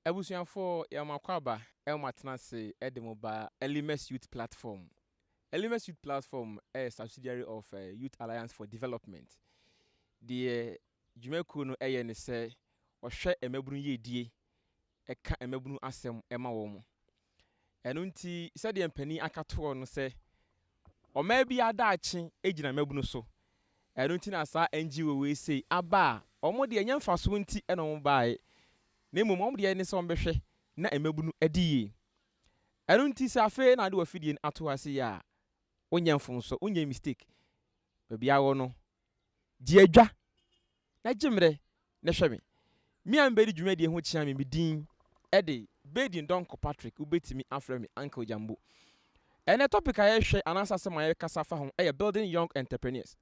Abusuafoɔ, yɛn mo akwaaba ɛwɔ mo atena ase ɛde mo ba Elimus Youth Platform. Elimus Youth Platform ɛyɛ subsidiary of uh, Youth Alliance for Development. Deɛ dwumakuo no ɛyɛ ne sɛ, ɔhwɛ mmabunu yiedie ka mmabunu asɛm ma wɔn. Ɛno nti, sɛdeɛ mpanin aka toɔ no sɛ, ɔmaa biara daakye gyina mmabunu so. Ɛno nti na saa NGO wei sei aba a, wɔn deɛ ɛnyɛ mfasoɔ nti na wɔn baeɛ, na mmom wɔn deɛ ne sɛ wɔbɛhwɛ na mmabunu adi yie. Ɛno nti sɛ afei na wode w'afidie no ato ase yɛ a, wonyɛ mfomsoɔ, wonyɛ mistake. Baabi a wɔ no, Di adwa, na gye mmerɛ na hwɛ me. Me a mebɛdi dwumadie ho kyea me, me din de Baden Donkor Patrick, wobɛtumi afrɛ me Uncle Jambo. Ɛnnɛ topic a yɛrehwɛ anaasɛ asɛm a yɛrekasa fa ho yɛ Building Young Entrepreneurs.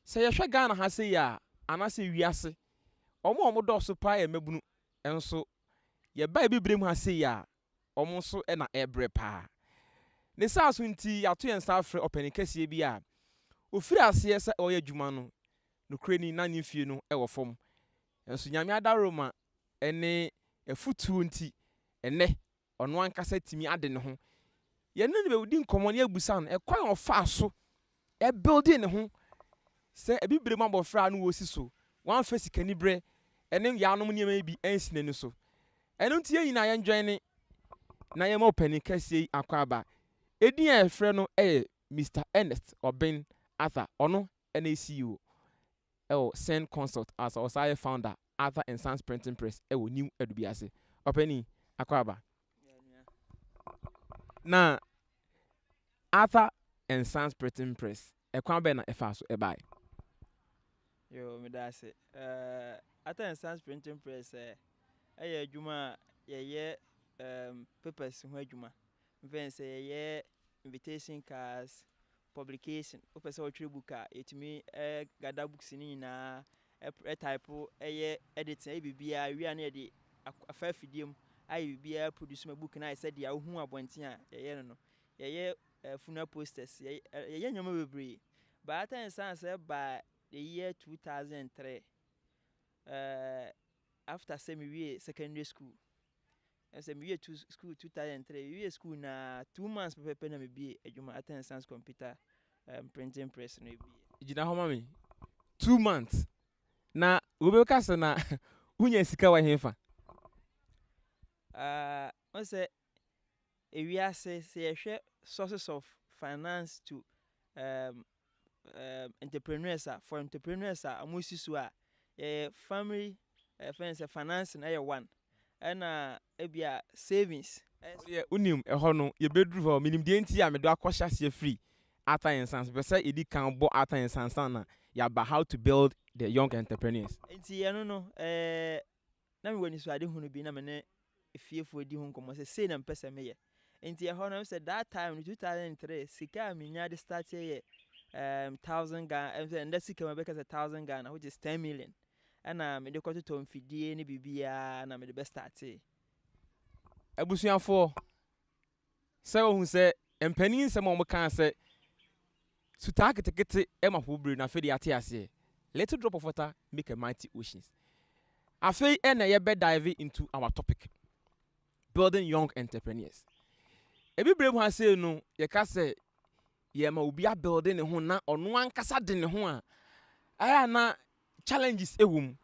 Sɛ yɛhwɛ Ghana ha sei a, anaasɛ wiase, wɔn a wɔdɔɔso paa yɛ mmabunu, nso yɛba abibire mu ha sei a, wɔn nso na ɛrebrɛ paa. Ne saa so nti, yɛato yɛn nsa afrɛ ɔpanin kɛseɛ bi a ɔfirii aseɛ sɛ ɔreyɛ adwuma no, nokorɛ ni, na ne mfeɛ no wɔ fam. Nanso Nyame adaworoma ne afutuo nti, ɛnnɛ ɔno ankasa atumi ade ne ho. Yɛne no bɛdi nkɔmmɔ na yɛabisa no ɛkwan a ɔfaa so ɛbuilde ne ho sɛ Abibirem abɔfra a na ɔresi so, wamfa sikanibere ne yaanom nneɛma yi bi ansi n'ani so. Ɛno nti yɛn nyinaa yɛndwɛne na yɛmma ɔpanin kɛseɛ yi akwaaba. Edin a yɛfrɛ no yɛ Mister Ernest Obeng Arthur, ɔno ne CEO. wɔ Sen Consult a ɔsan yɛ founder Arthur and Sons Printing Press wɔ New Adubiase. Ɔpanin, Akwaaba. Na Arthur and Sons Printing Press, ɛkwan bɛn na ɛfaa so bae? Yoo, meda ase. Eh, Arthur and Sons Printing Press eh, ɛyɛ adwuma a yɛyɛ um, papers ho adwuma. Mfɛn sɛ yɛyɛ invitation cards, Publication, Wopɛ sɛ wotwerɛ book a, yɛtumi gather books no nyinaa, ɛ type, yɛ editing, yɛ biribiara, yɛwie a na yɛde afa afidie mu ayɛ biribiara produce ma book no ayɛ sɛ deɛ wohu abɔnten a yɛyɛ no no. Yɛyɛ funeral posters, yɛyɛ nneɛma bebree. But after yɛn san sɛ baa the year 2003, eh, after sɛ mewie secondary school, Sɛ miwie tu school two thousand and three, miwie school no ara two months pɛpɛɛpɛ na mibue adwuma Art and Science Computer um, Printing Press no ebue. Gyina hɔ ma me. Two months. Na wobɛka sɛ na wonya sika wɔ hefa? Ah, ɔn sɛ ewiase sɛ yɛhwɛ sources of finance to um, um entrepreneurs a for entrepreneurs a ɔmo si so a yɛyɛ family yɛfrɛ no sɛ financing ɛyɛ one ɛna ebia savings. Ɔdeɛ wonim ɛhɔ no yɛbɛduru hɔ menim deɛ nti a mede wakɔ hyɛ aseɛ firi Arthur and Sons mepɛ sɛ yɛdi kan bɔ Arthur and Sons ansa na yɛaba how to build the young entrepreneurs. Nti ɛno no ɛɛ. Na mewɔ anisoadehunu bi na me ne efiefo redi ho nkɔmmɔ sɛ sei na mepɛ sɛ meyɛ. Enti ɛhɔ no, sɛ that time no, 2003, sika a minyaa de starteɛ yɛ um, thousand Ghana, ɛm sɛ ɛnda sika mu ɛbɛka sɛ thousand Ghana, which is ten million. Ɛna mede kɔtotɔ mfidie ne biribiara na mede bɛ startee. Abusuafoɔ, sɛ ohu sɛ mpanin nsɛm a wɔkaa sɛ sutaa ketekete ma po bere no afei de yɛate aseɛ. Little drop of water make a mighty oceans. Afei na yɛbɛ dive into our topic building young entrepreneurs. Ebibire mu ha sei no yɛka sɛ yɛma obi abuilde ne ho na ɔno ankasa de ne ho a ɛyɛ na Challenges wɔ mu.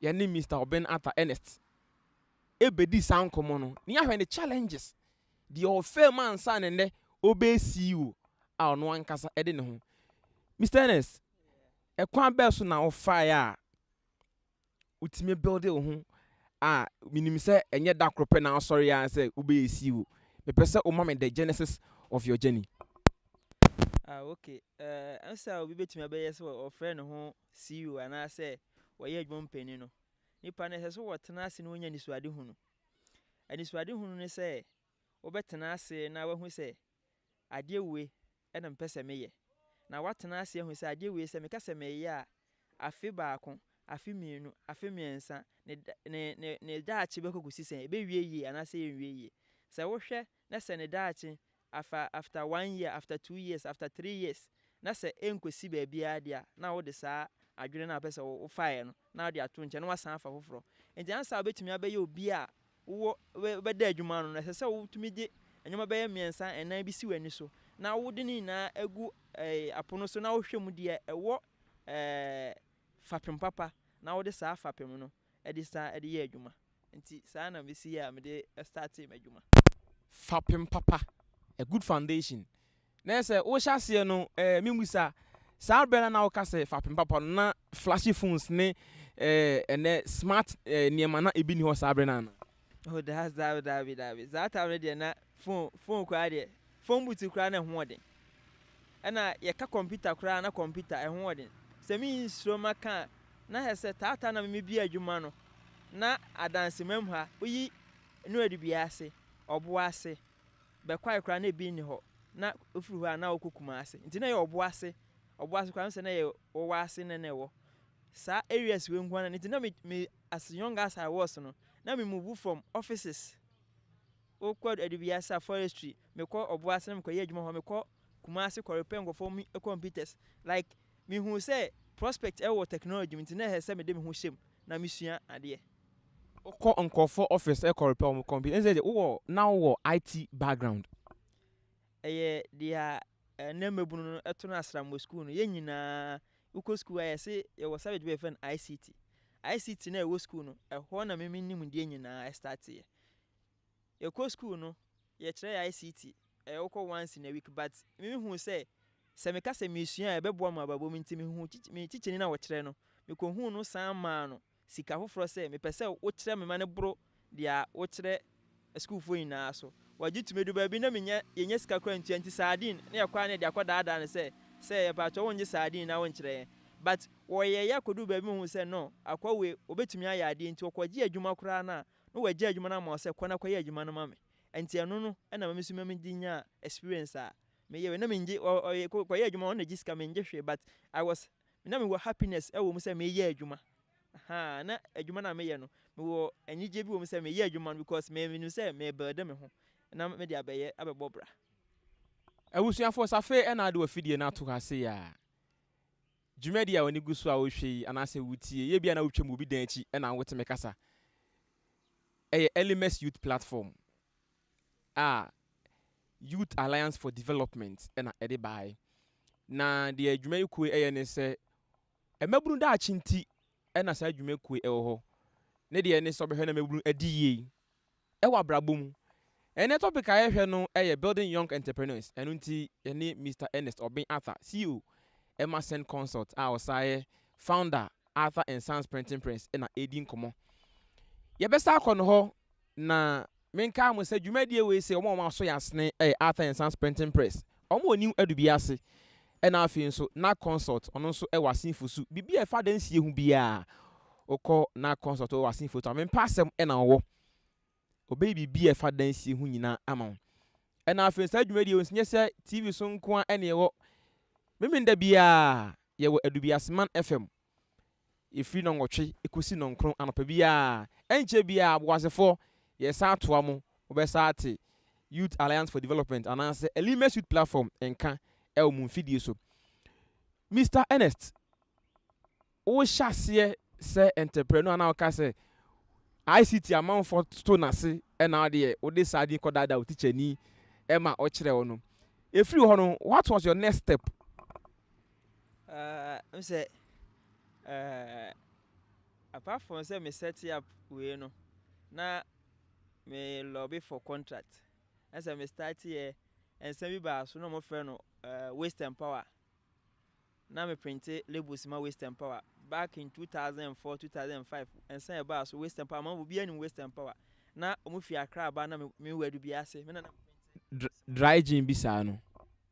Yɛne Mister Oben Atta Ernest bɛdii saa nkɔmmɔ no, na yɛahwɛ ne challenges, deɛ ɔfaa mu ansa na nnɛ ɔbɛyɛ CEO a ɔno ankasa de ne ho. Mister Ernest, ɛkwan bɛn so na wofaeɛ a wotumi builde wo ho a menim sɛ ɛnyɛ da koro pɛ na wosɔreeɛ ara sɛ wobɛyɛ CEO. Mepɛ sɛ woma me the genesis of your journey. Ah okay, eh, nsa a obi betumi abɛyɛ sɛ ɔfrɛ ne ho CEO anaasɛ ɔyɛ adwuma mu panyin no, nipa no ɛsɛ sɛ wɔtena ase na wɔnya anisoade hunu. Anisoade hunu ne sɛ wobɛtena ase na wahu sɛ adeɛ wei ɛna mpɛ sɛ meyɛ. Na watena ase ahu sɛ adeɛ wei sɛ meka sɛ meyɛ a, afe baako, afe mmienu, afe mmiɛnsa, ne ne ne daakye bɛkɔ kɔsi sɛ ɛbɛwie yie anaasɛ ɛnwie yie. Sɛ wohwɛ na sɛ ne daakye afa after one year, after two years, after three years na sɛ ɛnkɔsi baabiara deɛ a, na wode saa adwene no a wopɛ sɛ wofaeɛ no na wode ato nkyɛn na woasan afa foforɔ. Enti ansa a wobɛtumi abɛyɛ obi a wowɔ wobɛda adwuma ano no, ɛsɛ sɛ wotumi de nneɛma bɛyɛ mmiɛnsa, nnan bi si w'ani so na wode ne nyinaa gu apono so na wohwɛ mu deɛ ɛwɔ fapem papa na wode saa fapem no de san de yɛ adwuma. Nti saa na mesi yɛ a mede startee m'adwuma. Fapem papa, a good foundation. Na ɛyɛ sɛ wohyɛ aseɛ no eh, memmisa, saa berɛ no na woka sɛ fapem papa no na flashy phones ne eh, ɛnɛ smart eh, nneɛma na ebi ni hɔ saa berɛ no anaa? Oh daa daa daabi daabi saa time no deɛ na phone phone koraa deɛ phone booth koraa na ɛho ɔden ɛna yɛka computer koraa na computer ɛho ɔden sɛ mi nsoro ma ka na hɛ sɛ taataa na mi bi adwuma no na adanse mam ha oyi no adi bi ase ɔbo ase bɛkwae koraa na ebi nni hɔ na ofiri hɔ a na ɔkɔ kuma ase nti na yɛ ɔbo ase ɔbo ase koraa sɛ na yɛ ɔwɔ ase na na ɛwɔ saa areas wei nko ara nti na mi mi as young as I was no na me move from offices o kɔ adubiasa forestry me kɔ ɔboase na me kɔ yɛ adwuma hɔ me kɔ kumase kɔ repair nkɔfɔ mi computers like me hu sɛ prospect ɛwɔ technology mi nti na ɛhɛ sɛ me de me ho hyɛm na me sua adeɛ. Wokɔ nkɔfɔ office ɛkɔ repair wɔn computer ɛnsɛ deɛ wowɔ na wowɔ IT background. Ɛyɛ deɛ Nnɛ mmabunu no ɛto no asram wɔ sukuu no. Yɛn nyinaa, wokɔ sukuu a yɛse yɛwɔ subject bi a yɛfrɛ no ICT. ICT no a ɛwɔ sukuu no, ɛhɔ na me me nimdeɛ nyinaa ɛstarteɛ. Yɛkɔ sukuu no, yɛkyerɛ yɛ ICT, ɛyɛ wokɔ once in a week but me me huu sɛ, sɛ meka sɛ meresua a ɛbɛboa me wɔ abrabɔ mu nti me huu me tikyanyi no a ɔkyerɛ no, mekɔhuu no san maa no Sika foforɔ sɛ mepɛ sɛ wokyerɛ me ma no boro deɛ wokyerɛ asukuufoɔ nyinaa so. Wɔgye to me do baabi na menya yɛnya sika koraa ntua nti sardine na yɛkɔ ara na yɛde akɔ daadaa no sɛ sɛ yɛpaatwɔ wongye sardine na wonkyerɛ yɛn but wɔyɛeɛ akɔduru baabi mehuu sɛ no akoa wei ɔbɛtumi ayɛ adeɛ nti ɔkɔgyee adwuma koraa no a na wagya adwuma no ama wo sɛ kɔ na kɔyɛ adwuma no ma me nti ɛno no na ma me nso megye nyaa experience a meyɛ wei na mengye ɔyɛ kɔyɛ adwuma ɔno na gye sika mengye hwee but I was me na mewɔ happiness wɔ mu sɛ meyɛ adwuma ahaa na adwuma no a meyɛ no mewɔ anigye bi wɔ mu sɛ meyɛ adwuma no because me menim sɛ me build me ho na mede abɛyɛ abɛbɔ bra. Abusuafoɔ sɛ afei na wode w'afidie no ato hɔ ase yɛ a dwumadie a w'ani gu so a wohwɛ yi anaasɛ wotie yi ebia na wotwam wɔ obi dan akyi na wote me kasa ɛyɛ Elimes Youth Platform. a Youth Alliance for Development na ɛde baeɛ. Na deɛ dwumayɛkuo yi yɛ ne sɛ, mmabunu daakye nti na saa dwumakuo yi wɔ hɔ. Ne deɛ ne sɛ ɔbɛhwɛ na mmabunu adi yie wɔ abrabɔ mu. Ɛnɛ topic a yɛhwɛ no yɛ Building Young Entrepreneurs. Ɛno nti yɛne Mr. Ernest Obeng Arthur, CEO ɛma Send Consult a ɔsan yɛ founder Arthur and Sons Printing Press na ɛredi nkɔmmɔ. Yɛbɛsa akɔ no hɔ na Menkaa mo sɛ dwumadie wei sei wɔn a wɔn aso yɛ asene yɛ Arthur and Sons Printing Press, wɔn wɔ New Adubi ase, ɛna afei nso Nac Consult ɔno nso wɔ Asinfo su, biribi a ɛfa adansie ho biara wokɔ Nac Consult wɔ Asinfo to a me mpɛ asɛm na wɔwɔ, wɔbɛyɛ biribi a ɛfa adansie ho nyinaa ama wo. Ɛna afei saa dwumadie wei nso nyɛ sɛ TV so nko ara na ɛwɔ, Memenda biara yɛwɔ Adubiaseman FM Ɛfiri nnɔnwɔtwe kɔsi nnɔnkron anɔpa biara. Ɛnkyɛ biara, Boasefoɔ, yɛresan atoa mo, mobɛsan ate Youth Alliance for Development anaasɛ Elimes Youth Platform nka wɔ mo mfidie so. Mister Ernest, wohyɛ aseɛ sɛ entrepreneur a na woka sɛ ICT amanfoɔ toto no ase na wo deɛ wode saa din kɔdaadaa wo tikyani ma ɔkyerɛ wo no. Ɛfiri hɔ no, what was your next step? Ah wohu sɛ eh apart from sɛ me set up wei no na me lobby for contract na sɛ me start yɛ nsa bi baa so na ɔmo frɛ no waste and power na me printe labels ma waste and power back in 2004, 2005 nsa a ɛbaa so waste and power ama obiara nim waste and power na ɔmo fi Accra ba na me wura Dubiase me na na me printe dry gin bi saa no.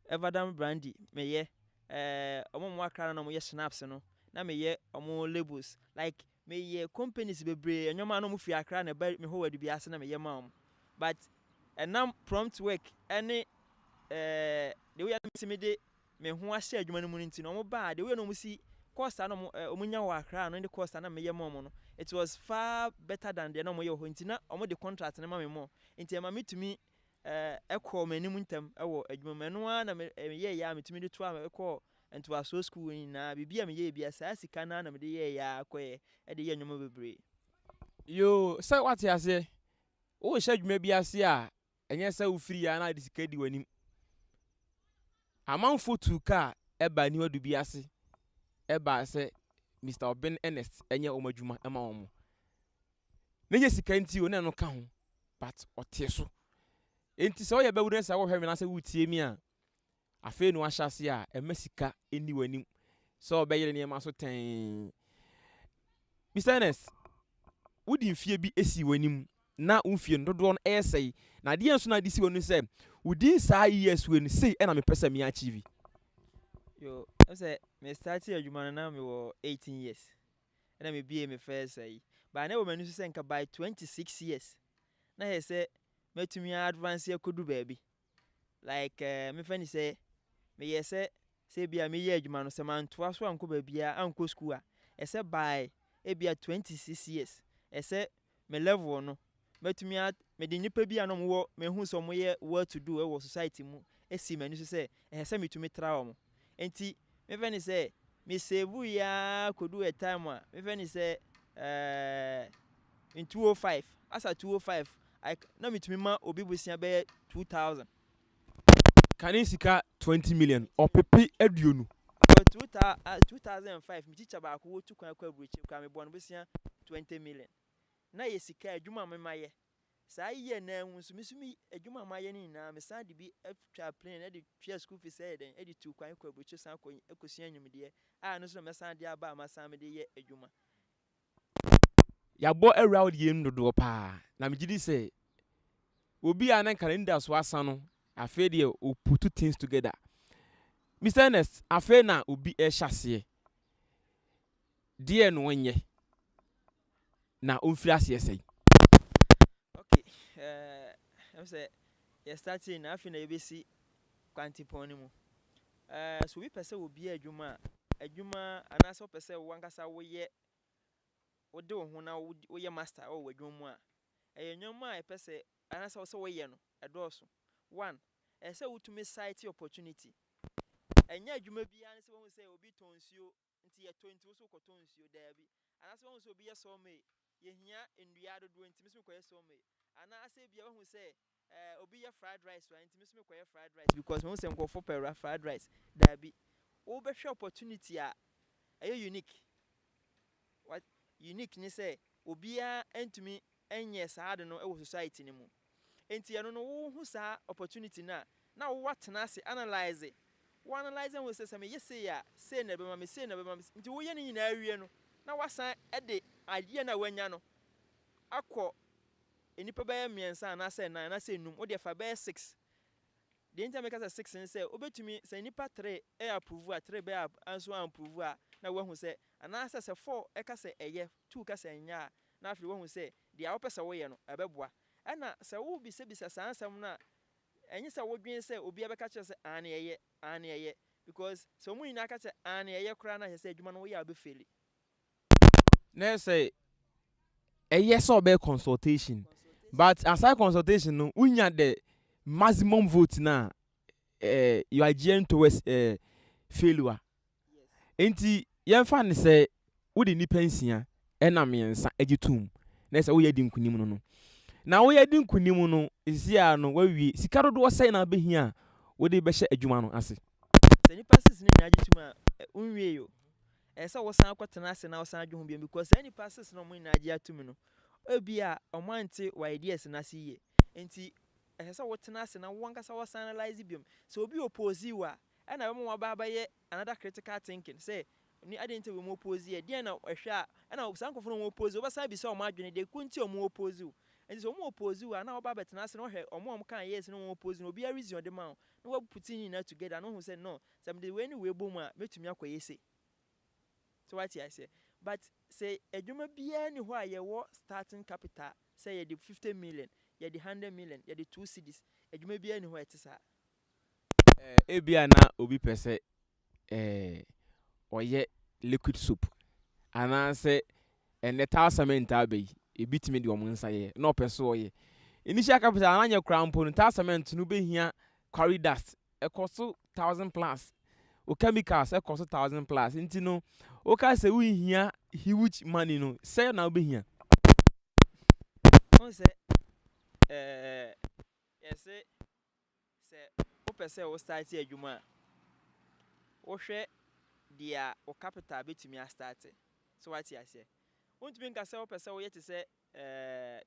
Evadam brandy meyɛ ɛɛ ɔmo a ɔmo akra no na ɔmo yɛ schnapps no na meyɛ ɔmo labels like meyɛ companies bebree nnoɔma na ɔmo firi akra na ɛba me hɔ wɔ Adubia ase na meyɛ ma ɔmo but ɛnam prompt work ɛne ɛɛ the way a na mesi me de me ho ahyɛ adwuma no mu no nti no ɔmo baa the way a na ɔmo si course a na ɔmo ɛɛ ɔmo nya wɔ akra no ne course a na meyɛ ma ɔmo no it was far better than deɛ na ɔmo yɛ wɔ hɔ nti na ɔmo de contract no ma me more nti ɛma me tumi kɔɔ m'anim ntɛm wɔ adwuma mu. Ɛno ara na meyɛeɛ ara metumi de toaa me kɔɔ ntoasoɔ sukuu hɔ nyinaa. Biribi a meyɛeɛ biara, saa sika no ara na mede yɛeɛ ara kɔeɛ de yɛɛ nneɛma bebree. Yoo, sɛ woate aseɛ. Worehyɛ adwuma bi ase a, ɛnyɛ sɛ wofiri ara na wode sika di w'anim. Amanfoɔ tuu kaa baa aniwa du bi ase baa sɛ Mister Obeng Ernest nyɛ wɔn adwuma mma wɔn. na nyɛ sika nti o na ɛno ka ho but ɔtee so enti sɛ ɔyɛ bɛwura na sɛ wɔhwɛ me na sɛ wotie mi a afei na wahyɛ ase a ɛma sika nni w'anim sɛ ɔbɛyere nneɛma so tɛn Mr. Ernest wodi mfie bi esi w'anim na wo mfie no dodoɔ no ɛyɛ sɛe na adeɛ nso na ade si w'anim sɛ wodin saa years wei no sei ɛna mepɛ sɛ me achieve yo sɛ me start adwuma no na mewɔ 18 years na mibiee me first ayi. But na ɛwɔ m'ani so sɛ nka by twenty six years na ayɛ sɛ matumi a advance akodu baabi. Like eh, memfa ni sɛ meyɛ sɛ sɛ ebia meyɛ adwuma no sɛ mantoa so ankɔ baabiara ankɔ school a, ɛsɛ by ebia twenty six years ɛsɛ me level no mɛtumi a mede nnipa bi a na wɔwɔ mehu sɛ wɔyɛ well to do wɔ society mu si m'ani so sɛ ɛsɛ sɛ metumi tra wɔn nti mefɛ ne sɛ me save yi ara kɔdu a time a mefɛ ne sɛ ɛɛ in 205 asa 205 na metumi ma obi bosea bɛyɛ 2000 Kane sika twenty million ɔpepe aduonu. Wɔ two thou ah two thousand and five me teacher baako wotu kwan kɔ aburokyire koraa mebɔɔ no bosea twenty million na yɛ sika adwuma a me mayɛ saa year no ara mu nso me so me adwuma a mayɛ no nyinaa mesan de bi atwa plane na de tua school fees ɛyɛ dɛn de tu kwan kɔ aburokyire san kɔ kɔsua nimdeɛ a ɛno nso na mɛsan de aba a masan mede yɛ adwuma Yɛabɔ awura deɛ mu dodoɔ paa na megye di sɛ obi a na nka n'anidaso asa no afei deɛ o put things together. Mr Ernest, afei na obi ɛhyɛ aseɛ deɛ na ɔnyɛ na ɔmfiri aseɛ sɛn? Okay, ɛm eh, sɛ yɛ start na afei na yɛbɛsi kwantepɔn no mu Sɛ obi pɛ sɛ obue adwuma a, adwuma anaasɛ wopɛ sɛ w'ankasa woyɛ, wode wo ho na woyɛ master wɔ w'adwuma mu a, ɛyɛ nneɛma a ɛpɛ sɛ anaasɛ ɛwɔ sɛ woyɛ no, ɛdɔɔso. One, ɛsɛ sɛ wotumi sight opportunity. Ɛnyɛ adwuma biara ne sɛ woahu sɛ obi tɔn nsuo Nti yɛ tɔ nti wo so wokɔ tɔ nsuo daabi anaasɛ wahu sɛ obi yɛ sɔɔ mee yɛ hia ndua dodoɔ nti me so me kɔ yɛ sɔɔ mee anaa sɛ ebia wahu sɛ eh obi yɛ fried rice wa nti me so me kɔ yɛ fried rice because mahu sɛ nkorɔfoɔ pɛ ra fried rice daabi wo bɛ hwɛ opportunity a ɛyɛ unique what unique ne sɛ obiara ntumi nyɛ saa ade no wɔ society no mu. Enti ɛno no wo hu saa opportunity no a na wo atena ase analyse, wo analyse ahu sɛ sɛ me yɛ sei a sei na ɛbɛma me, sei na ɛbɛma me, nti wo yɛ ne nyinaa wie no na wasan de adeɛ no a wanya no akɔ nnipa bɛyɛ mmiɛnsa anaa sɛ nnan anaa sɛ nnum, wo deɛ fa bɛyɛ six. Deɛ nti a meka sɛ six ne sɛ wo bɛtumi sɛ nnipa three ɛ approve a three bɛyɛ anso a approve a na wahu sɛ anaa sɛ sɛ four ɛka sɛ ɛyɛ two ka sɛ ɛnyɛ a na afei wahu sɛ Deɛ wopɛ sɛ woyɛ no, ɛbɛboa. Ɛnna sɛ wobisabisa saa nsɛm no a, ɛnyɛ sɛ wodwene sɛ obiara bɛka akyerɛ wo sɛ, Aane, ɛyɛ, aane, ɛyɛ. Because sɛ wɔn nyinaa ka kyerɛ aane, ɛyɛ koraa no a, kyerɛ sɛ adwuma no woyɛ a wobɛfeeli. Na ɛyɛ sɛ ɛyɛ sɛ ɔbɛyɛ consultation. But aside consultation no, wonya the maximum vote no a, eh, you are gearing towards eh, failure. Enti yɛmfa no sɛ wode nnipa nsia nam mmiɛnsa gye toom na ɛsɛ sɛ woyɛ di nkonim no no. Na woyɛ di nkonim no, ɛsisi ara no woawie. Sika dodoɔ sɛn na wobɛhia a wode bɛhyɛ adwuma no ase? Sɛ nnipa six no nyinaa gye tom a, wonwiei o. Ɛsɛ sɛ wosan kɔtena ase na wosan dwe ho bio because saa nnipa six no a wɔn nyinaa gye atom no, ebia wɔante wo ideas no ase yie. Enti ɛsɛ sɛ wotena ase na wo ankasa wosan analyse bio. Sɛ obi oppose wo a, Ɛna ɛbɛma wɔn aba abɛyɛ another critical thinking sɛ ne adeɛ nti a wɔn oppose yɛ, deɛn na ɛhwɛ a ɛna saa nkorɔfoɔ no wɔn oppose wɔn bɛsan abisa wɔn adwene deɛ ko nti a wɔn oppose wo. Nti sɛ wɔn oppose wo a na woaba abɛtena ase na woahwɛ wɔn a wɔkaa yes ne wɔn oppose no obiara reason ɔde ma wo na wa put ne nyinaa together na wohu sɛ no sɛ mede wei ne wei bɔ mu a mɛtumi akɔyɛ sei. So wate aseɛ? But sɛ adwuma biara nni hɔ a yɛwɔ starting capital sɛ yɛde fifty million, yɛde hundred million, yɛde two cedis, adwuma biara nni hɔ a ɛte saa. eh, ebia na obi pɛ sɛ eh, ɔyɛ liquid soap anaasɛ ɛnɛ taa cement taa bɛyi ebi tumi de wɔn nsa yɛ na ɔpɛ so ɔyɛ initial capital ananyɛ koraa mpo no taa cement no bɛhia quarry dust ɛkɔ so thousand plus o chemicals ɛkɔ so thousand plus nti no woka sɛ wohia huge money no sɛ na wobɛhia sɛ eh, yɛse Sɛ wopɛ sɛ wo starte adwuma a, wohwɛ deɛ wo capital bɛtumi a starte. So wate aseɛ? Wontumi nka sɛ wopɛ sɛ woyɛ te sɛ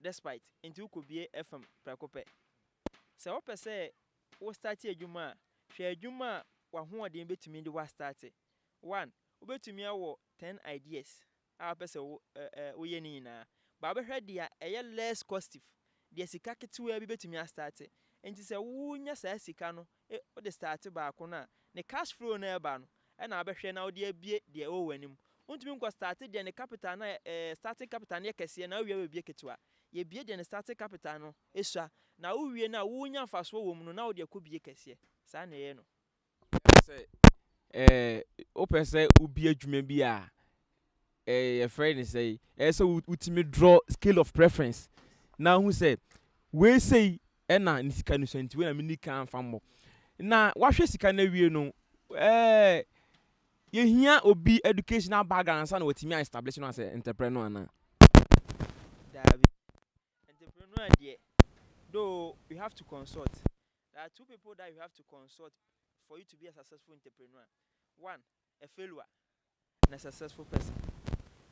Despite nti wo kɔbue FM prɛko pɛ. Sɛ wopɛ sɛ wo starte adwuma a, hwɛ adwuma a w'ahoɔden bɛtumi de wo a starte. One, wobɛtumi awɔ ten ideas a wopɛ sɛ wo ɛ ɛ woyɛ ne nyinaa. But wobɛhwɛ deɛ ɛyɛ less costive, deɛ sika ketewaa bi bɛtumi astarte. Nti sɛ wonya saa sika no e wode starte baako no a, ne cash flow no a ɛba no ɛna wobɛhwɛ na wode abue deɛ ɛwɔ w'anim. Wontumi nkɔ starte deɛ ne capital no ɛ ɛ starting capital no yɛ kɛseɛ na wowia wabue ketewa. Yɛbue deɛ ne starting capital no sua na wowie no a wonya mfasoɔ wɔ mu no na wode akɔbue kɛseɛ. Saa na ɛyɛ no. wopɛ sɛ wobie adwuma bi a yɛfrɛ no sɛ ɛyɛ sɛ wotumi drɔ scale of preference na ahu sɛ wei sei ɛna ne sika no sua nti wei na meni kan fa mmɔ na wahwɛ sika no awie no ɛɛ yɛhia obi educational background ansa na watumi a establish no asɛ ntɛprɛ no anaa daabi ntɛprɛ no adeɛ though we have to consult There are two people that you have to consult for you to be a successful entrepreneur. One, a failure and a successful person.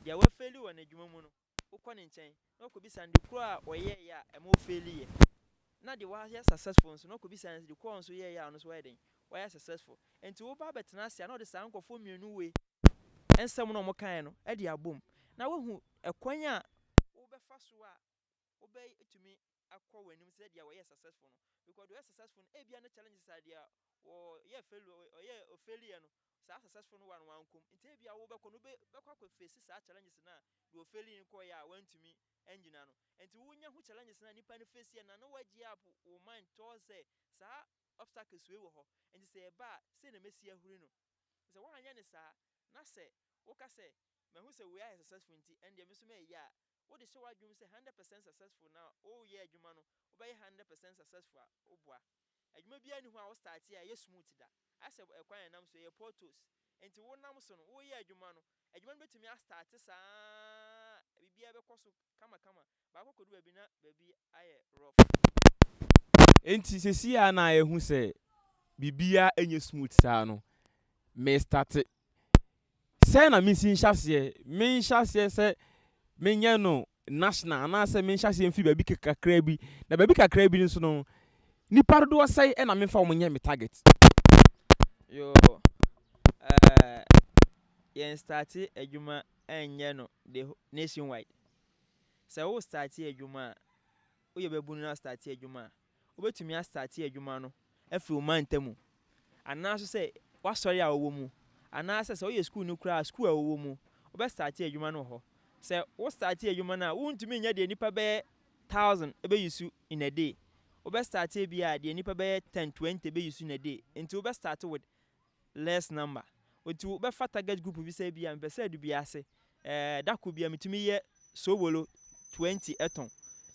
Deɛ wafeli wɔ n'adwuma mu no, wokɔ ne nkyɛn na wakɔbisa no de koro a ɔyɛeɛ a ɛma ɔfeeliiɛ. Na deɛ wayɛ successful nso na wakɔbisa no de koro a ɔno nso yɛeɛ a ɔno nso wayɛ dɛn? Wayɛ successful. Nti woba abɛtena ase a na ɔde saa nkurɔfoɔ mmienu wei nsɛm na wɔkaeɛ no de abom na wahu ɛkwan a wobɛfa so a wobɛtumi akɔ w'anim sɛ deɛ wɔyɛ successful no because deɛ ɔyɛ successful no ebia ne challenges a deɛ ɔyɛ fail ɔyɛ ɔfailiɛ no saa successful no wa no wankɔm nti ebia wobɛkɔ no wobɛkɔ akɔ face saa challenges no a deɛ ɔfaili no kɔɔyɛ a wantumi angyina no nti wonya ho challenges no a nipa no face yɛ na na woagye up wo mind towards sɛ saa obstacles wei wɔ hɔ nti sɛ ɛba a sei na mɛsi ahuri no sɛ woanyɛ ne saa na sɛ woka sɛ mahu sɛ wei ayɛ successful nti ɛndeɛ me nso mɛyɛ a wo de hyɛ w'adwenem sɛ hundred percent successful na wo yɛ adwuma no wo bɛyɛ hundred percent successful a wo boa adwuma biara nni hɔ a wo start a ɛyɛ smooth da asɛ ɛkwan a ɛnam so ɛyɛ portals nti wo nam so no wo yɛ adwuma no adwuma no bɛtumi a start saa biribiara bɛkɔ so kama kama baakɔ kɔdu baabi na baabi ayɛ rough. Nti sɛsi a na yɛhu sɛ biribiara nyɛ smooth saa no me start Sɛn na minsi nhyɛ aseɛ? Menhyɛ aseɛ sɛ menyɛ no national anaasɛ menhyɛ aseɛ mfiri baabi kakraa bi. Na baabi kakraa bi nso no, nnipa dodoɔ sɛn na memfa wɔn nyɛ me target? Yo, eh, yɛn starte adwuma ɛnyɛ no the nationwide. Sɛ wo starte adwuma a, woyɛ babunu na starte adwuma a, Wobɛtumi astate adwuma no afiri wo mantam mu, anaa nso sɛ w'asɔre a wowɔ mu, anaa sɛ sɛ woyɛ sukuuni koraa a, sukuu a wowɔ mu, wobɛstate adwuma no wɔ hɔ. Sɛ wo state adwuma no a, wontumi nyɛ deɛ nnipa bɛyɛ thousand bɛyusu in a day. Wobɛstate ebia deɛ nnipa bɛyɛ ten, twenty bɛyusu in a day. Nti wobɛstate with less number ɔti wo bɛ fa target group bi sɛ ebia mepɛ sɛ adu bi ase eh da koro bia metumi yɛ soobolo 20 ɛtɔn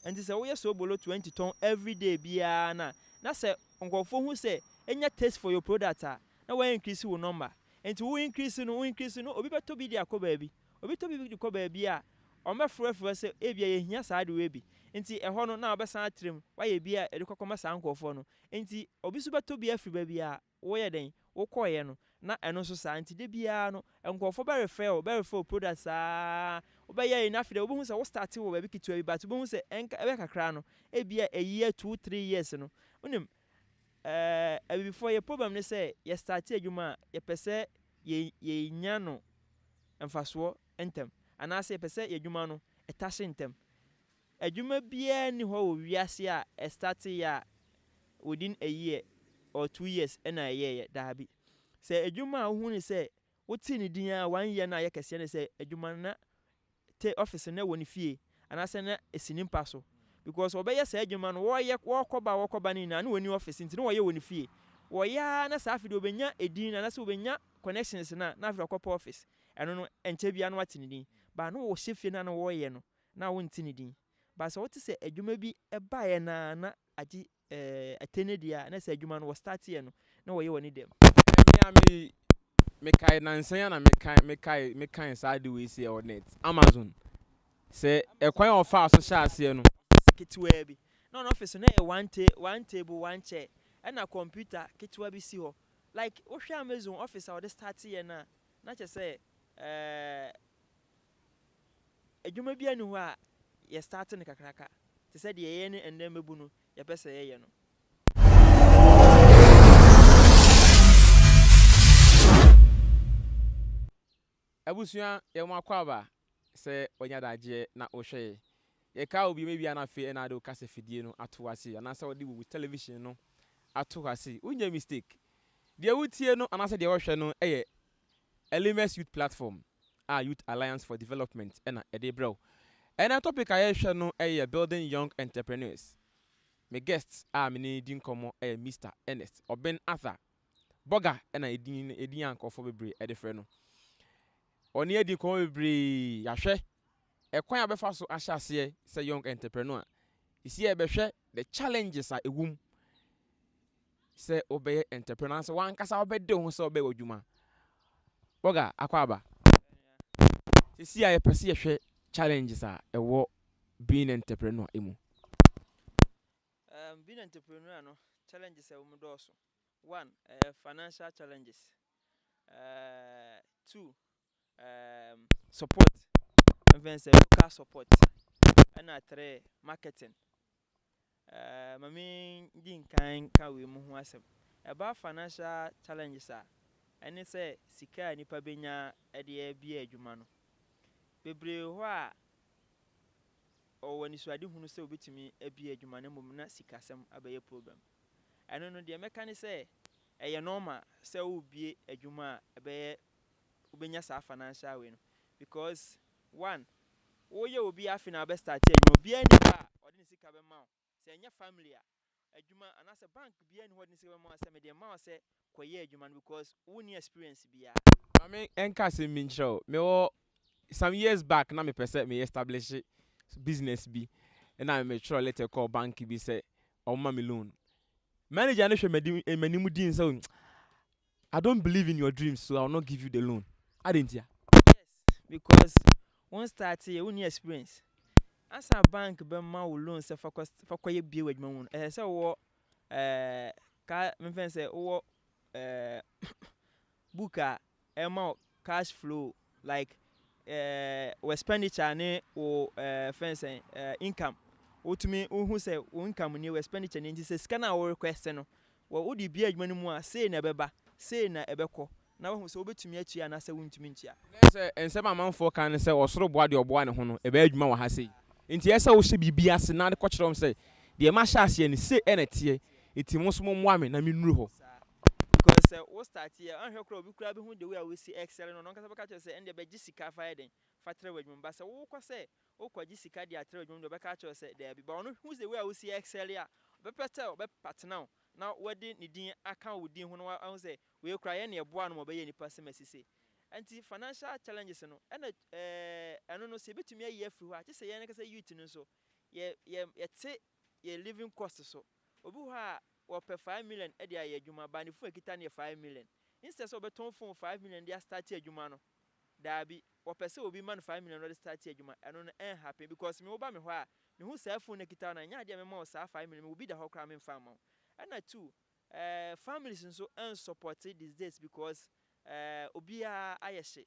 ɛnti sɛ wo yɛ soobolo 20 tɔn everyday biara na na sɛ nkorɔfoɔ hu sɛ enya taste for your product a na wa increase wo number ɛnti wo increase no wo increase no obi bɛtɔ bi de akɔ baabi obi tɔ bi de kɔ baabi a wɔn bɛ frɛ frɛ sɛ ebia yɛ hia saa ade wei bi ɛnti ɛhɔ no na wobɛsan atrɛ mu wayɛ bi a ɛde kɔ kɔ ma saa nkorɔfoɔ no ɛnti obi nso bɛtɔ bi afiri baabi a Woyɛ dɛn? Wokɔeɛ no, na ɛno nso saa. Nti da biara no, nkorɔfoɔ bɛrefrɛ wo, bɛrefrɛ wo product saa ara. Wobɛyɛ yei, na afei deɛ wobɛhu sɛ wo starte wɔ baabi ketewa bi, but wobɛhu sɛ ɛnka, ɛbɛyɛ kakra no, ebia a year, two, three years no, wonim, eh, Abibifoɔ, yɛn problem ne sɛ, yɛstarte adwuma a, yɛpɛ sɛ yɛ, yɛnya no mfasoɔ ntɛm, anaasɛ yɛpɛ sɛ yɛn adwuma no, ɛtahye ntɛm. Adwuma biara nni hɔ wɔ wiase a ɛstateeɛ a within a year or two years na ɛyɛeɛ. Daabi. Sɛ adwuma a wohu no sɛ wotee ne din ara one year no a ɛyɛ kɛseɛ ne sɛ adwuma no na te office no wɔ ne fie anaasɛ na ɛsi ne mpa so because wɔbɛyɛ saa adwuma no wɔyɛ wɔkɔba wɔkɔba no nyinaa na wɔnni office nti na wɔyɛ wɔ ne fie. Wɔyɛ ara na saa afei deɛ wɔbɛnya edin no anaasɛ wɔbɛnya connections no a na afei deɛ wɔkɔpɛ office. Ɛno no ɛnkyɛ biara na wɔate ne din but na wɔhyɛ fie no a na wɔyɛ no Na wonte ne din. But sɛ wote sɛ adwuma bi baeɛ no ara na agye atɛne deɛ a, na sɛ adwuma no wɔ starteɛ no na wɔyɛ wɔ ne dɛm. Me a me me kae nansa yi a na me kae me kae me kae saa ade wei sɛ ɛwɔ net Amazon sɛ ɛkwan a ɔfaa so hyɛ aseɛ no. Ɔffice ketewaa bi na ɔno ɔffice no yɛ one ta one table one chair ɛna computer ketewa bi si hɔ like wohwɛ Amazon ɔffice a ɔde starteɛ no a na kyerɛ sɛ ɛɛ. Adwuma biara nni hɔ a yɛ start no kakraka te sɛ deɛ yɛyɛ no ɛnnɛ mmɛbu no yɛpɛ sɛ yɛyɛ no. Abusua yɛ mo akwaaba sɛ wanya daagyeɛ na wohwɛ yɛ. Yɛkaa wo biom ebia na afei ɛna wode wo kasafidie no ato hɔ ase anaasɛ wode wo television no ato hɔ ase. Wonyɛ mistake. Deɛ wotie no anaasɛ deɛ wohwɛ no yɛ Elimus Youth Platform. a Youth Alliance for Development na ɛde rebrɛ wo. Ɛnnɛ topic a yɛrehwɛ no yɛ Building Young Entrepreneurs. Me guest a me ne di nkɔmmɔ yɛ Mister Ernest Oben Arthur. Bɔga na edin no edin a nkurɔfoɔ bebree de frɛ no. Ɔne adi nkɔmmɔ bebree, yɛahwɛ ɛkwan a ɔbɛfa so ahyɛ aseɛ sɛ young entrepreneur. Sisi yɛbɛhwɛ the challenges a ɛwom sɛ wobɛyɛ ntɛprɛ anaasɛ w'ankasa wobɛde wo ho sɛ wobɛyɛ w'adwuma. Oga Akwaaba, seesei a yɛpɛ sɛ yɛhwɛ challenges a ɛwɔ being entrepreneur mu. Um, being entrepreneur no, challenges a ɛwɔ mu dɔɔso. One, ɛyɛ financial challenges. Uh, two, um support, mfɛn sɛ local support ɛna trɛ marketing. Uh, ma me di nkan ka wei mu ho asɛm. Ɛba financial challenges a, ɛne sɛ sika a nipa benya ɛde abie adwuma no. Bebree hɔ a ɔwɔ anisuade hunu sɛ obetumi abie adwuma no mmom na sikasɛm abɛyɛ problem. Ɛno no deɛ mɛka ne sɛ ɛyɛ normal sɛ wobie adwuma a ɛbɛyɛ wobɛnya saa financial wei no because one woyɛ obi afe na abɛ start adwuma obiara ni hɔ a ɔde ne sika bɛma wo sɛ ɛnyɛ family a adwuma anaasɛ bank biara ni hɔ ɔde ne sika bɛma wo sɛ mede ma wo sɛ kɔyɛ adwuma no because wonni experience biara. Maame ɛnka asɛm bi nkyerɛ wo mewɔ some years back na mepɛ sɛ meyɛ establish business bi ɛna metwerɛ letter kɔɔ bank bi sɛ ɔmma me loan manager no hwɛ m'anim din sɛ I don't believe in your dreams so I will not give you the loan adɛn ntia? Yes because wo start yɛ wo nni experience ansa bank bɛma wo loan sɛ fa fa kɔ yɛ bie wɔ adwuma mu no ɛsɛ sɛ wowɔ ɛɛ ka mefɛn sɛ wowɔ ɛɛ book a ɛma wo cash flow Like eh, wo expenditure ne wo eh, fɛn sɛn eh, income. Wotumi wohu sɛ wo income nie, wo expenditure nie nti sɛ sika no a wo request no, wɔ wode bia adwuma no mu a, sei na ɛbɛba, sei na ɛbɛkɔ. Na wahu sɛ wobɛtumi atua anaasɛ wontumi ntua. Na ɛsɛ sɛ nsɛm a amanfoɔ ka ne sɛ ɔsoro boa deɛ ɔboa ne ho no, ɛbɛyɛ adwuma wɔ ha sei. Nti ɛyɛ sɛ wohyɛ biribi ase na wode kɔkyerɛ wɔn sɛ, deɛ mahyɛ aseɛ no, sei na ɛteɛ, nti mo nso mommoa me na mennuru hɔ. Because sɛ wo start yɛ a, anhwɛ koraa obi koraa bɛhu the way a wosi excel no, ɔno ankasa bɛka akyerɛ wo sɛ ɛndeɛ bɛgye sika fa yɛ dɛn, fa trɛ w'adwuma mu. But sɛ wokɔ sɛ wokɔgye sika de atrɛ w'adwuma mu deɛ ɔbɛka akyerɛ wo sɛ daabi. But ɔno hu the way a wosi excel a, ɔbɛpɛ sɛ ɔbɛpartner wo na wode ne din aka wo din ho na wahu sɛ wei koraa yɛ na yɛboaa no ma ɔbɛyɛɛ nipa sɛ Mercy sei. Ɛnti financial challenges no, ɛna eh, ɛno no sɛ yɛbɛtumi ayi afiri hɔ a, gye sɛ yɛn ankasa youth no nso yɛ, yɛ, yɛte yɛn living cost so. Obi wɔ hɔ a ɔpɛ five million de ayɛ adwuma but ne phone a ɛkita no yɛ five million. Instead sɛ ɔbɛtɔn phone five million de astarte adwuma no, daabi, ɔpɛ sɛ obi ma no five million na ɔde starte adwuma. Ɛno no ɛnhappen because me woba me hɔ a, mehu saa phone no a ɛkita wo no a, ɛnyɛ adeɛ a mɛma wo saa five million, mewɔ bi da hɔ koraa memfa mma wo. Ɛna two, ɛɛ families nso ɛnsɔpɔte these days because ɛɛ obiara ayɛ hyee.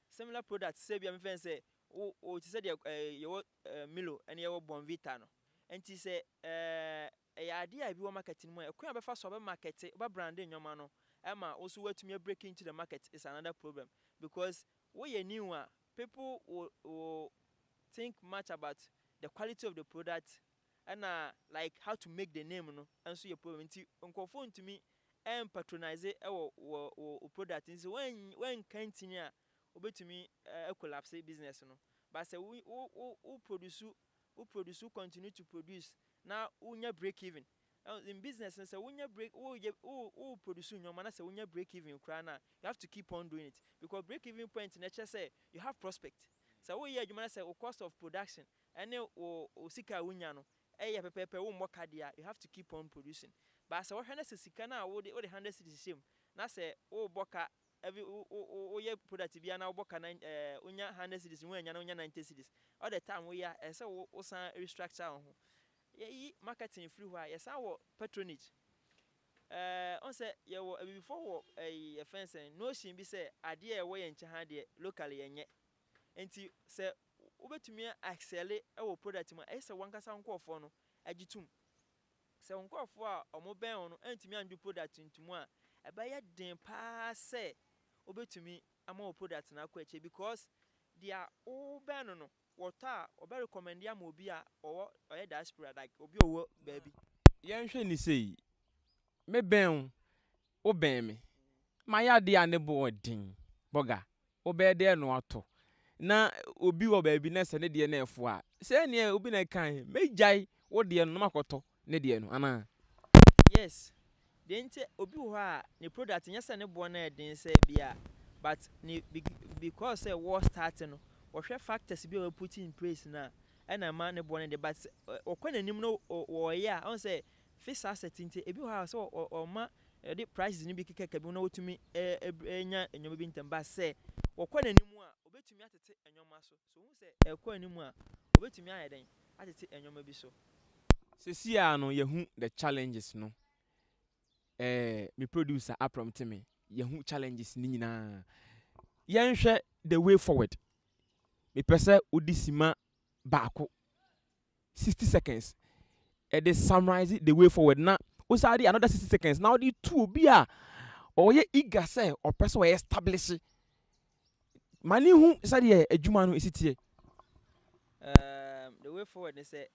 Similar products sɛ ebia mefrɛ no sɛ wo wo te sɛ deɛ ɛɛ yɛwɔ ɛɛ Milo ɛne yɛwɔ Bonvita no nti sɛ ɛɛ ɛyɛ adeɛ a ebi wɔ market no mu a ɛkwan a wobɛfa so a wobɛmarkete wobɛbrande nnoɔma no ma wo nso woatumi a break into the market is another problem because woyɛ new a people will will think much about the quality of the product Ɛna like how to make the name no nso yɛ problem nti nkurɔfoɔ ntumi mpatronize wɔ wɔ wɔ wo product nti sɛ woan woanka ntini a wobɛtumi a collapse business no but sɛ wo wo wo wo produce wo produce wo continue to produce na wonya break even in business no sɛ wonya break woyɛ wo wo produce nnoɔma na sɛ wonya break even koraa no a you have to keep on doing it because break even point no ɛkyerɛ sɛ you have prospect sɛ woyɛ adwuma na sɛ wo cost of production Ɛne wo wo sika a wunya no yɛ pɛpɛɛpɛ, wommɔ ka dea, you have to keep on producing. But sɛ wohwɛ na sɛ sika no a wode wode hundred cedis hyɛ mu na sɛ wobɔ ka every wo wo wo woyɛ product biara na wobɔ ka nine ɛɛ wonya hundred cedis na woannya na wonya ninety cedis, all the time woyɛ a ɛsɛ sɛ wo wosan restructure wo ho. Yɛyi marketing firi hɔ a, yɛsan wɔ patronage. Ɛɛ wohu sɛ yɛwɔ abibifoɔ wɔ ɛyi yɛfrɛ no sɛn notion bi sɛ adeɛ a ɛwɔ yɛn nkyɛn ha deɛ locally yɛnyɛ. Enti sɛ wobɛtumi a excelle wɔ product mu a, ɛyɛ sɛ w'ankasa wo nkorɔfoɔ no gye tom. Sɛ wo nkorɔfoɔ a wɔbɛn wo no antumi andwo product ntomu a, ɛbɛyɛ den paa sɛ wobɛtumi ama wo product no akɔ akyire because deɛ wobɛn no no, wɔtɔ a wɔbɛ recommend ama obi a ɔwɔ, ɔyɛ diaspora like obi a ɔwɔ baabi. Yɛnhwɛ no sei, mebɛn wo Wobɛn me, mayɛ adeɛ a ne bo yɛ den. Bɔga, wobɛyɛ dɛn na woatɔ? Na obi wɔ baabi na sɛ ne deɛ no refo a, sɛɛ ne obi na ɛkae, Mɛgyae wo deɛ no na makɔtɔ ne deɛ no, anaa? Yes, deɛ nti obi wɔ hɔ a ne product nyɛ sɛ ne boɔ no yɛ den sɛɛ bi a, but ne because sɛ wɔ start no, wɔhwɛ factors bi a wɔ put in place no a, ɛna ɛma ne boɔ no yɛ den, but ɔkɔ n'anim no wɔreyɛ a, ɔhu sɛ Fixed asset nti ebi wɔ hɔ a sɛ wɔma wɔde prices no bi keka bi ho na wotumi nya nneɛma bi ntɛm but sɛ wɔkɔ n'anim a obetumi atete nneɛma so. So wohu sɛ ɛkɔ anim a obetumi ayɛ dɛn atete nneɛma bi so. Sesii ara no yɛahu the challenges no eh me producer apromte me yɛahu challenges no nyinaa yɛnhwɛ the way forward mepɛ sɛ wode sima baako. sixty seconds ɛde summarise the way forward na wosan de another sixty seconds na ɔde tu obi a ɔyɛ eager sɛ ɔpɛ sɛ ɔyɛ establish ma ne hu sɛdeɛ adwuma no ɛsi teɛ. Um, the way forward ne sɛ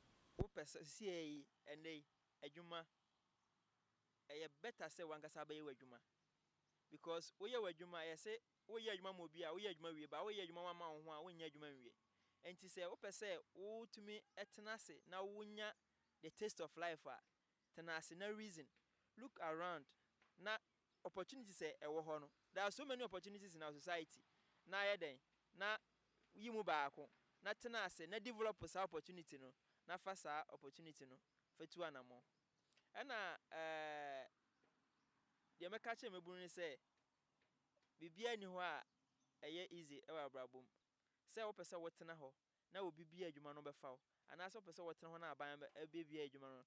wopɛ sɛ sie yi ɛnɛ yi adwuma ɛyɛ better sɛ wankasa bɛyɛ w'adwuma because woyɛ w'adwuma ɛyɛ sɛ Woreyɛ adwuma ma obi a, woyɛ adwuma wie ba, woreyɛ adwuma woamma wo ho a, wonyɛ adwuma nwie. Enti sɛ wopɛ sɛ wotumi tena ase na wunya the taste of life a, tena ase na reason, look around na opportunities a ɛwɔ hɔ no, there are so many opportunities in our society, na yɛ dɛn na yi mu baako na tena ase na develop saa opportunity no na fa saa opportunity no fa tu anammɔn. Ɛna ɛɛ deɛ mɛka akyerɛ mmabunu ne sɛ, Biribiara nni hɔ a ɛyɛ easy wɔ abrabɔ mu. Sɛ wopɛ sɛ wotena hɔ na obi bue adwuma no ɔbɛfa wo anaasɛ wopɛ sɛ wotena hɔ na aban abue adwuma no,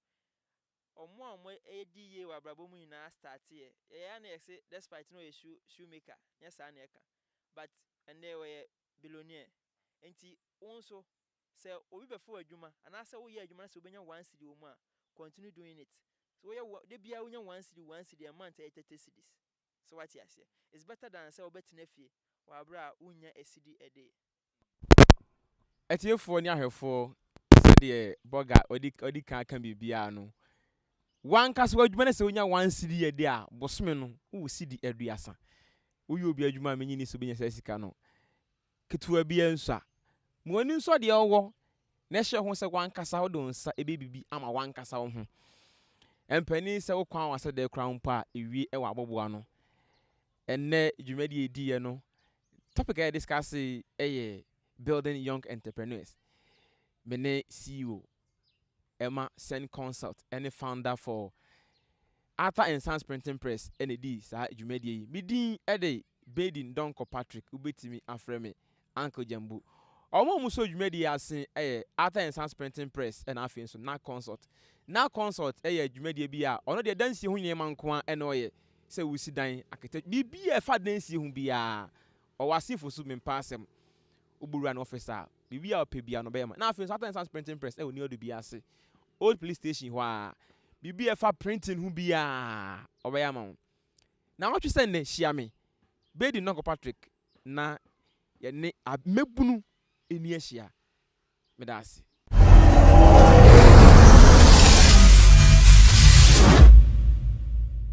ɔmo a ɔmo di yie wɔ abrabɔ mu nyinaa start yɛ. Yɛyɛ a na yɛse despite na ɔyɛ shoe shoe maker nyɛ saa na ɛka but ɛnnɛ ɔyɛ billionaire. Nti wo nso sɛ obi bɛfa wo adwuma anaasɛ woyɛ adwuma na sɛ wobɛnya one cedi wɔ mu a continue doing it. Woyɛ wo dabiara wonya one cedi one cedi a month ɛyɛ thirty cedis. So woate aseɛ? It's better than sɛ wobɛtena fie wɔ aberɛ a wonnya asidi a day. Atiefoɔ ne ahwɛfoɔ, sɛdeɛ Burger ɔdi ɔdi kan aka biribiara no, w'ankasa w'adwuma ne sɛ wonya one cedi a day a, bosome no wowɔ cedi aduasa. Woyɛ obi adwuma a mennye nni sɛ wobɛnya saa sika no. Ketewa bi ansua. Ma w'ani nsɔ deɛ ɔwɔ na ɛhyɛ ho sɛ w'ankasa wode wo nsa bɛyɛ biribi ama w'ankasa wo ho. Ɛmpɛnee sɛ wokɔ anwanwa sɛ dɛn koraa mpo a, wie wɔ aboboano. Ɛnnɛ dwumadie a yɛdiiɛ no, topic a yɛdiscuss yɛ Building Young Entrepreneurs. Me ne CEO ɛma Sen Consult ne Founder for Arthur and Sons Printing Press na edii saa dwumadie yi. Me din de Baden Donkor Patrick, wobɛtumi afrɛ me Uncle Gyambu. Wɔn a wɔsɔɔ dwumadie yi ase yɛ Arthur and Sons Printing Press na afei nso Nack Consult. Nack Consult yɛ dwumadie bi a ɔno deɛ dansie ho nneɛma nko ara na ɔyɛ sɛ wosi dan, architecture, biribi a ɛfa dansie ho biara ɔwɔ asefo so, mempɛ asɛm. Wobɛwura ne office a, Biribi a ɔpɛ biara no, ɔbɛyɛ ma no. Na afei nso, Arthur and Sons Printing Press wɔ New Adubi ase, Old Police Station hɔ ara. Biribi a ɛfa printing ho biara, ɔbɛyɛ ama wo. Nnawɔtwe sɛ nnɛ, hyia me, Bedi Nonko Patrick, na yɛne mmabunu ani ahyia. Meda ase.